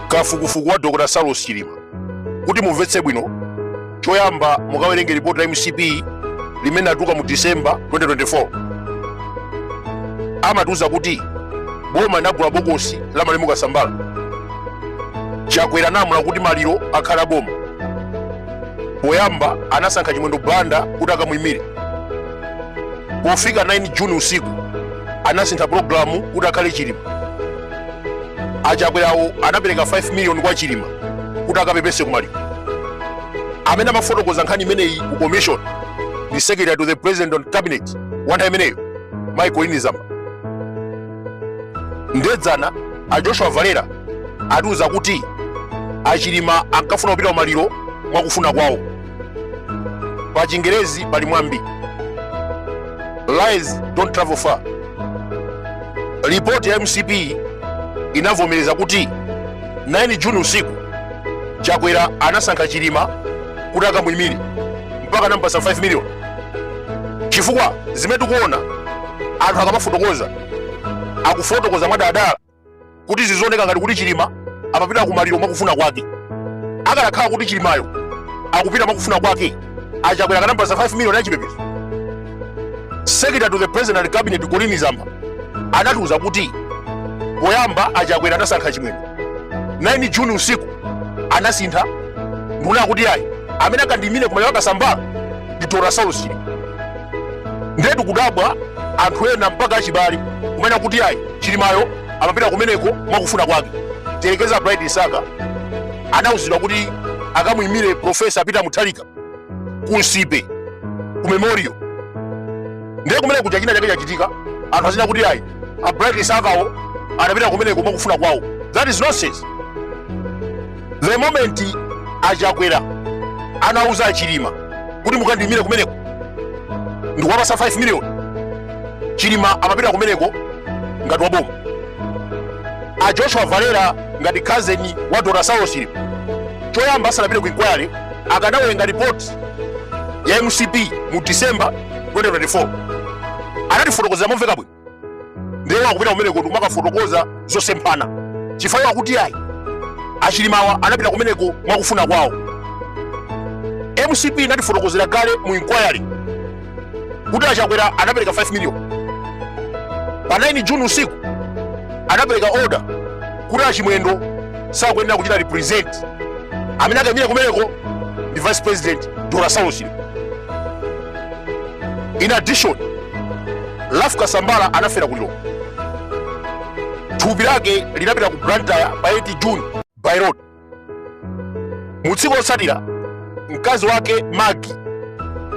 kafukufuku wa dr saulos chilima kuti mumvetse bwino choyamba mukawerenge ripoti la mcp limene atuka mu december 2024 amatiuza kuti boma linagula bokosi la malemu kasambala chakwera analamula kuti maliro akhale aboma poyamba anasankha chimwendo banda kuti akamuyimire pofika 9 juni usiku anasintha pulogalamu kuti akhale chilima achakwerawo anapereka 5 miliyoni kwa chilima kuti akapepese kumaliro amene amafotokoza nkhani imeneyi ku commission ndi secretary to the president and cabinet wanthawi imeneyo a colleen zamba ndiye dzana a joshua valera atiuza kuti achilima ankafuna kupita kumaliro mwakufuna kwawo pa chingerezi pali mwambi lies don't travel far ripoti ya mcp inavomereza kuti 9 juni usiku chakwera anasankha chilima kuti akamuyimire mpaka anampasa 5 million chifukwa zimene tikuona anthu akamafotokoza akufotokoza mwadadala kuti zizioneka ngati kuti chilima amapita kumaliro mwakufuna kwake akanakhala kuti chilimayo akupita mwakufuna kwake achakwera akanampasa 5 million yachipepeso secretary to the president and cabinet colleen zamba anatiuza kuti poyamba achakwera anasankha chimwendo 9 juni usiku anasintha ndikunena kuti ayi amene akandiyimire kumaliro a kasambala ndi dr saulos chilima ndiye tikudabwa anthu ena mpaka achibale kumene kuti ayi chilimayo amapita kumeneko mwakufuna kwake tiyerekeza bright msaka anauzidwa kuti akamuyimire profesa peter muthalika ku nsipe ku memorial ndiye kumene kuja china chake chachitika anthu azinena kuti ayi a bright msakawo anapita kumeneko mwakufuna kwawo that is nonsense the moment achakwera anauza achilima kuti mukandiyimire kumeneko ndikuwapasa 5 million chilima amapita kumeneko ngati waboma a joshua valera ngati cousin wa dr saulos chilima choyamba asanapite ku inquiry akanawerenga report ya mcp mu december 2024 anatifotokozera momveka bwino ndiye akupita kumeneko ndi kumakafotokoza zosemphana chifukwa kuti ayi achilimawa anapita kumeneko mwakufuna kwawo mcp inatifotokozera kale mu inquiry kuti achakwera anapereka 5 million pa 9 juni usiku anapereka order kuti achimwendo sakuyenera kuchita represent amene akaimire kumeneko ndi vice president dr saulos in addition Ralph kasambala anafera ku Lilongwe thupi lake linapita ku blantyre pa 8 june by road mu tsiku lotsatira mkazi wake magi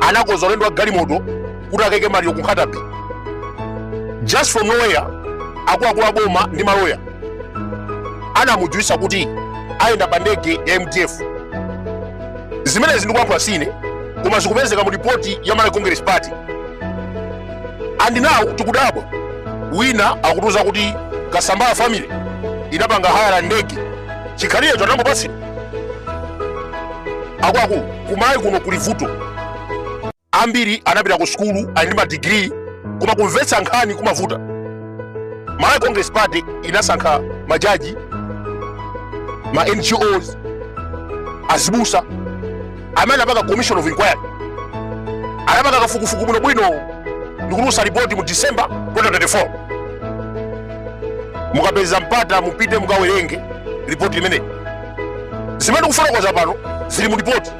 anakonza ulendo wa galimoto kuti akaike maliro ku Nkhata Bay just from nowhere akuluakulu a boma ndi maloya anamudziwitsa kuti ayenda pa ndege ya mdf zimenezi ndikuyankhula sine koma zikupezeka mu ripoti ya malawi congress party and now tikudabwa wina akutiuza kuti kasambala family inapanga haya la ndege chikhalirecho anangopatsidwa akuluakulu kumayi kuno kuli vuto Ambiri anapita ku sukulu, ali ndi madigiri, koma kumvetsa nkhani kumavuta. Malawi Congress Party inasankha majaji, ma NGOs, azibusa, amene anapanga commission of inquiry, anapanga kafukufuku bwinobwino ndikutulutsa ripoti mu December 2024. Mukapeza mpata mupite mukawerenge ripoti limeneli. Zimene ndikufotokoza pano zili mu ripoti.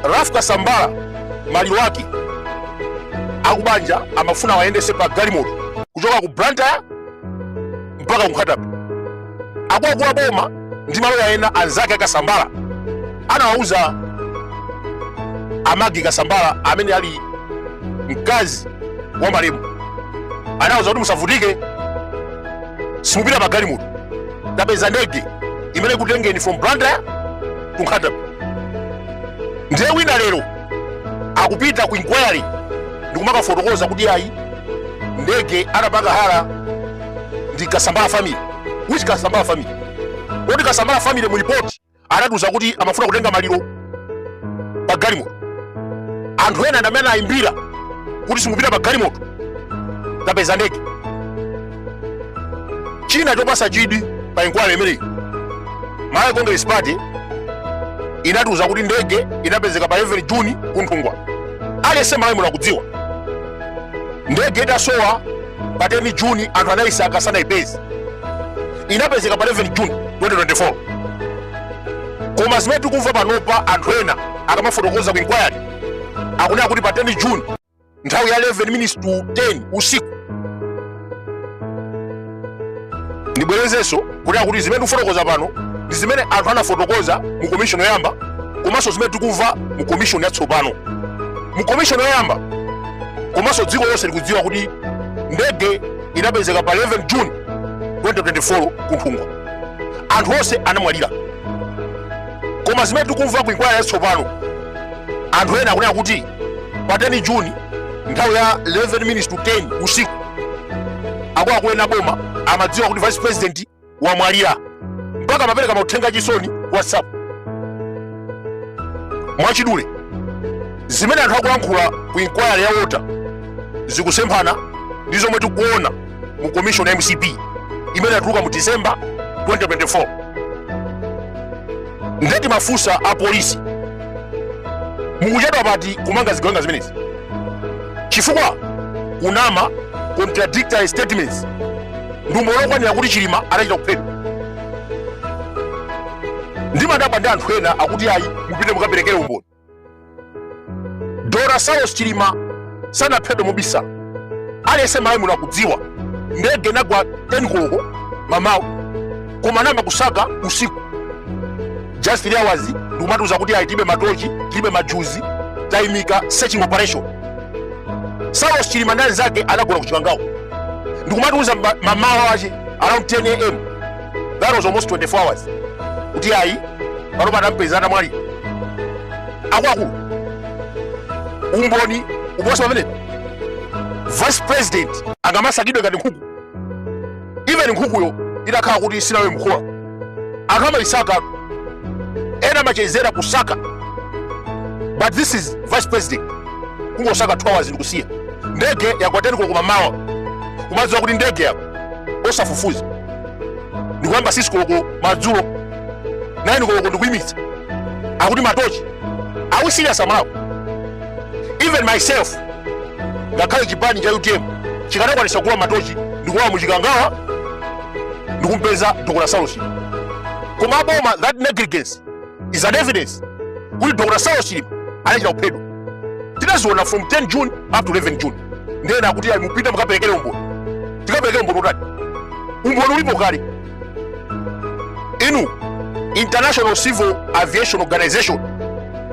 Ralph Kasambala maliro ake akubanja amafuna awayendetse pa galimoto kuchoka ku Blantyre mpaka ku Nkhata Bay akuluakulu a boma ndi maloya ena anzake akasambala anawauza a Magi kasambala amene ali mkazi wa malemu anawauza kuti musavutike simupita pa galimoto tapeza ndege imene ikutengeni from Blantyre to Nkhata ndiye wina lero akupita ku inquiry ndikumakafotokoza kuti ayi ndege anapanga haya ndi kasambala family which kasambala family kodi kasambala family mu report anatiuza kuti amafuna kutenga maliro pa galimoto anthu ena ndamene anayimbira kuti simupita pa galimoto tapeza ndege china chopatsa chidwi pa inquiry imeneyi malawi congress party inatiuza kuti ndege inapezeka pa 11 juni kunthungwa aliyense malawi muno akudziwa ndege itasowa pa 10 juni anthu anayisaka sanayipeze inapezeka pa 11 juni 2024 koma zimene tikumva panopa anthu ena akamafotokoza ku inquiry akunena kuti pa 10 juni nthawi ya 11 minutes to 10 usiku ndibwerezenso kunena kuti zimene tikufotokoza pano ndi zimene anthu anafotokoza mu komishoni yoyamba komanso zimene tikumva mu komishoni yatsopano mu komishoni yoyamba komanso dziko lonse likudziwa kuti ndege inapezeka pa 11 june 2024 ku nthungwa anthu onse anamwalira koma zimene tikumva ku inkwaya yatsopano anthu ena akunena kuti pa 10 juni nthawi ya 11 minutes to 10 usiku akuluakulu ena aboma amadziwa kuti vice president wamwalira mpaka amapereka mauthenga achisoni ku whatsapp mwachidule zimene anthu akulankhula ku inquiry ya wota zikusemphana ndi zomwe tikuona mu commission ya mcp imene inatuluka mu december 2024 nde timafusa a polisi mukuchedwa pati kumanga zigawenga zimenezi chifukwa kunama contradictory statements ndi umboni wokwanira kuti chilima anachita kuphedwa ndimadabwa ndi anthu ena akuti ayi mupite mukaperekere umboni dr saulos chilima sanaphedwe mobisala aliyense malawi muno akudziwa ndege inagwa 10 koloko mamawa koma anayamba kusaka usiku just three hours ndikumatiuza kuti ayi tilibe matochi tilibe majuzi tayimika searching operation saulos chilima ndi anzake anagona ku chikangawa ndikumatiuza mamawa wache around 10 am that was almost 24 hours kuti ayi panopa tampeza atamwalira akuluakulu umboni uposa pamene vice president angamasakidwe ngati nkhuku even nkhukuyo itakhala kuti sinalowe mkhola anthu amaisaka ena amachezera kusaka but this is vice president kungosaka 2 hours ndikusiya ndege yagwa teni koloko mamawa kumadziwa kuti ndege yagwa osafufuza ndikuyamba sikisi koloko madzulo naini koloko ndikuyimitsa akuti matochi are we serious amalawi even myself ngakhale chipani cha utm chikanakwanisa kugula matochi ndikulowa muchikangawa ndikumpeza dr saulos chilima koma aboma that negligence is an evidence kuti dr saulos chilima anachita kuphedwa tinaziona from 10 june up to 11 june nde ena akuti ayi mupite mukaperekere umboni tikaperekere umboni utani umboni ulipo kale inu international civil aviation organization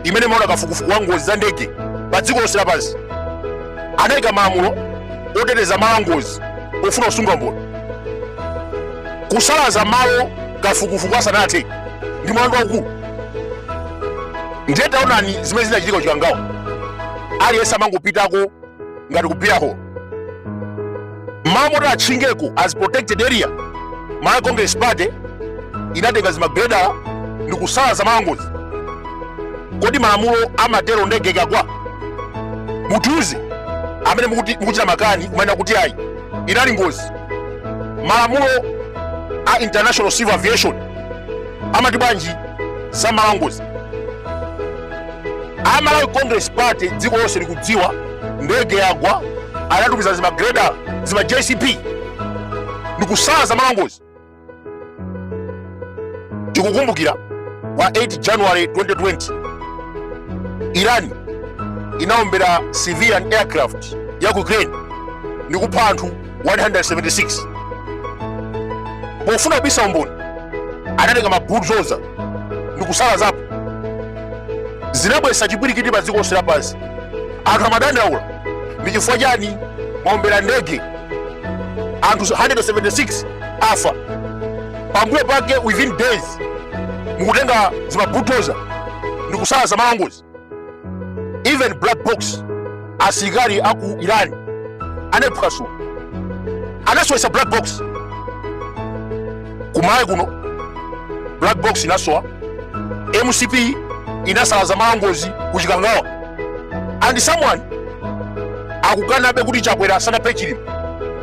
imene imaona kafukufuku wa ngozi za ndege pa dziko lonse lapansi anayika malamulo oteteza malo a ngozi ofuna kusunga umboni kusalaza malo kafukufuku asanathe ndi mlandu waukulu ndiye taonani zimene zinachitika ku chikangawa aliyense amangopitako ngati ku beer hall malo moti atchingeko as protected area malawi congress party inatenga zimagreda ndi kusalaza malo angozi kodi malamulo amatero ndege ikagwa mutiuze amene mukuchita makani kumanena kuti ayi inali ngozi malamulo a international civil aviation amati bwanji za malo angozi amalawi congress party dziko lonse likudziwa ndege yagwa anatumiza zimagreda zima jcp ndikusalaza malo angozi tikukumbukira pa 8 january 2020 iran inaombera civilian aircraft ya ku ukraine ndikupha anthu 176 pofuna kubisa umboni anatenga mabulldozer ndikusalazapo zinabwesa chipwirikiti pa dziko lonse lapansi anthu amadandaula ndi chifukwa chani mwaombera ndege anthu 176 afa pambuyo pake within days mukutenga zimabulldozer ndikusalaza malo angozi even black box asilikali aku iran anayiphwasula anasowesa black box kumalawi kuno black box inasowa mcp inasalaza malo angozi kuchikangawa and someone akukanabe kuti chakwera sanaphe chilima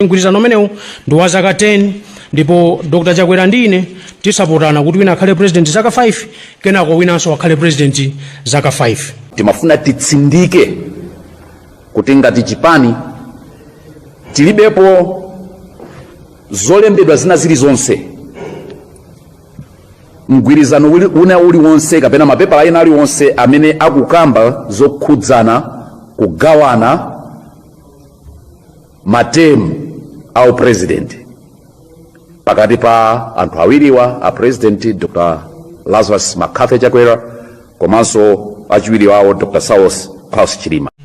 mgwirizano umenewu ndi wa zaka 10 ndipo dr chakwera ndi ine tizapotana kuti wina akhale president zaka 5 kenako winanso akhale president zaka 5 timafuna titsindike kuti ngati chipani tilibepo zolembedwa zina zilizonse mgwirizano wina uliwonse kapena mapepala ena aliwonse amene akukamba zokhudzana kugawana matemu au president pakati pa anthu awiriwa a president dr lazarus mccarthy chakwera komanso achiwiri wawo dr saulos klaus chilima